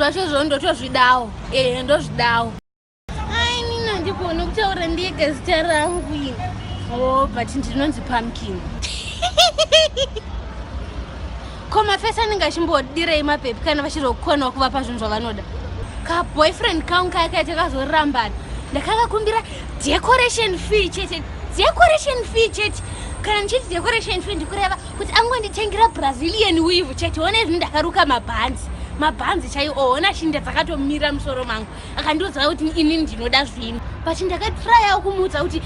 zvacho zvo ndotozvidawo ehe ndozvidawo ai nina ndikuona kutaura ndega zita rangu ini o oh, but ndinonzi pumpkin ko mafesi anenge achimbodirei mapepi kana vachiri kukwanwa kuvapa zvinhu zvavanoda kaboyfriend kangu kaya kaita kazorambana ndakakakumbira decoration fee chete decoration fee chete kana ndichiti decoration fee ndikureva kuti angonditengera brazilian weave chete one zvinhu ndakaruka mabhanzi mabhanzi chaiwo ona shinda dzakatomira musoro mangu akandiudza kuti ini ndinoda zvinhu but ndakatryawo kumuudza kuti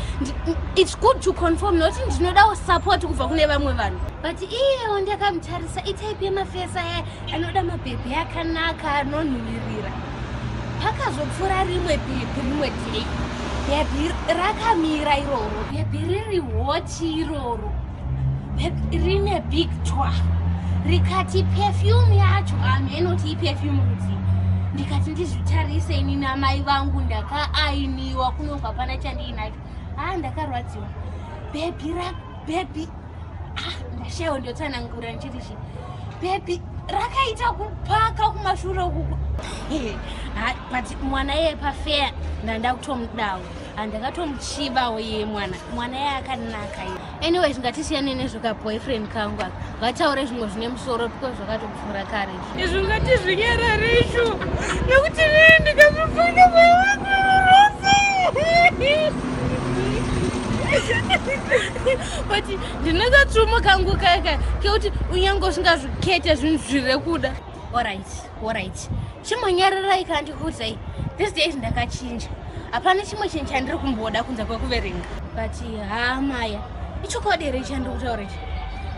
its good to conform nokuti ndinodawo support kubva kune vamwe vanhu but iyewo ndakamutarisa itype yemafesa aya anoda mabhebhi akanaka anonhuvirira pakazopfuura rimwe bhebhi rimwe day bhebhi rakamira iroro bhebhi riri hoti iroro rine big twa rikati perfume yacho hameno ti iperfume rudzi ndikati ndizvitarise ini namai vangu ndakaainiwa kunonga pana chandiinacho haa ndakarwadziwa bhebhi ra bhebhi ah, ndashayo ndotsanangura ndichiti chi bhebhi rakaita kupaka kumashure ukuku but mwana yepafeya ndandakutomudawo handakatomuchivawo ye mwana mwana ye akanaka ye anyway zvingatisiyane nezvoka boyfriend kangu aka vataure zvimwe zvine musoro because zvakatopfuura kare izvi ungati zvinyarare izvo nekuti rii ndikazvifunga moyo wangu rose but ndinoka trumo kangu kaka kekuti unyange usingazvikete zvinhu zviri kuda orit Alright. Chimonyararai kana ndikuudzai. This days ndakachinja. Hapana chimwe chinhu chandiri kumboda kunze kwekuverenga. But haa Maya, ichokwadi here chandiri kutaura ichi?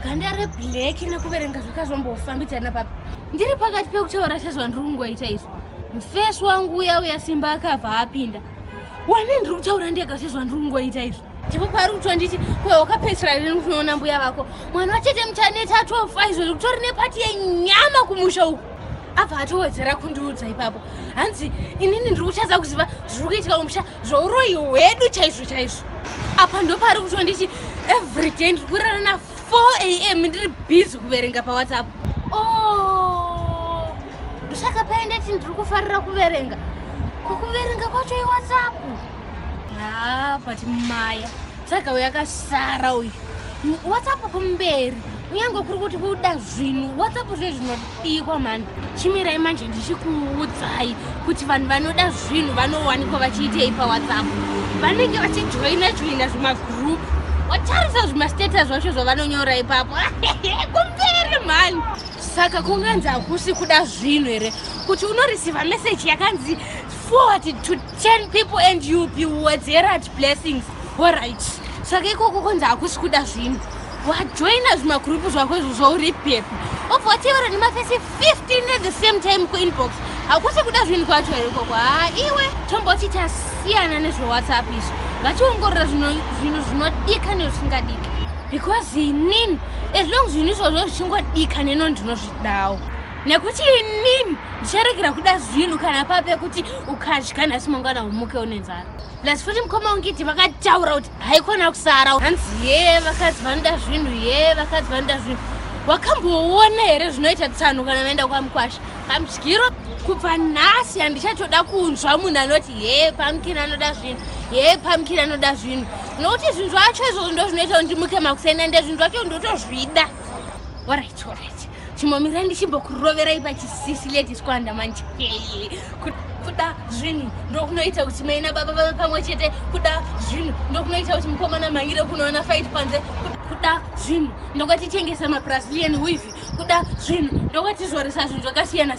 Ganda reblack nekuverenga zvakazombofambidzana papi? Ndiri pakati pekutaura sezvandiri kungoita izvo. Mfesi wangu uya uya Simba akabva apinda. Wani ndiri kutaura ndega sezvandiri kungoita izvo. ndipo paari kutonditi kwe wakapedzisira rini kunoona mbuya vako mwana wachete muchaneta atofa izvo zvikutori nepati yenyama kumusha uku abva atowedzera kundiudza ipapo hanzi inini ndiri kuchadza kuziva zviri kuitika kumusha zvouroyi hwedu chaizvo chaizvo apa ndopaari kutonditi every day ndiri kurara na 4 am ndiri busy kuverenga pawhatsapp o oh, ndosaka paendeti ndiri kufarira kuverenga kwakuverenga kwacho iwhatsapp haa but maya saka uyu akasara uyu whatsapp kumberi kunyange kuri kuti kuda zvinhu whatsapp zve zvinodikwa mhani chimirai manje ndichikuudzai kuti vanhu vanoda zvinhu vanowanikwa vachiitei pawhatsapp vanenge vachijoina joina zvimagroup watarisa zvimastatus zvacho zvavanonyora ipapo kumberi mhani saka kunganzi hakusi kuda zvinhu here kuti unoreceiva meseji yakanzi forward to 10 people and you be wedzera at blessings oright saka ikoko konzi hakusi kuda zvinhu wajoina zvimagurupu zvako izvo zvauri pepi obva watevera nemafesi 15 at the same time kuinbox hakusi kuda zvinhu kwacho here ikoko haa iwe tomboti tasiyana nezvewhatsapp izvo ngationgorora zvinhu zvinodika nezvisingadika because inini as long zvinhu izvozvo zvichingodika neno ndinozvidawo nekuti inini ndicharegera kuda zvinhu kana pape kuti ukadya nhasi mangwana umuke une nzara plus futi mukoma ungiti vakataura kuti haikona kusara hanzi ye vakadzi vanoda zvinhu ye vakadzi vanoda zvinhu wakamboona here zvinoita tsano kana vaenda kwamukwasha pamudyiro kubva nhasi handichatoda kunzwa munhu anoti ye pamukini anoda zvinhu ye pamukini anoda zvinhu nokuti zvinhu zvacho izvozvo ndo zvinoita kuti ndimuke makuseni ande zvinhu zvacho ndotozvida orit orit chimomira ndichimbokuroverai pachisisi ladies kwanda manje kuda zvinhu ndokunoita kuti mai nababa vave pamwe chete kuda zvinhu ndokunoita kuti mukomana mhangire kunoona fight panze kuda zvinhu ndokwatitengesa mabrasilian wivi kuda zvinhu ndokwatizoresa zvinhu zvakasiyana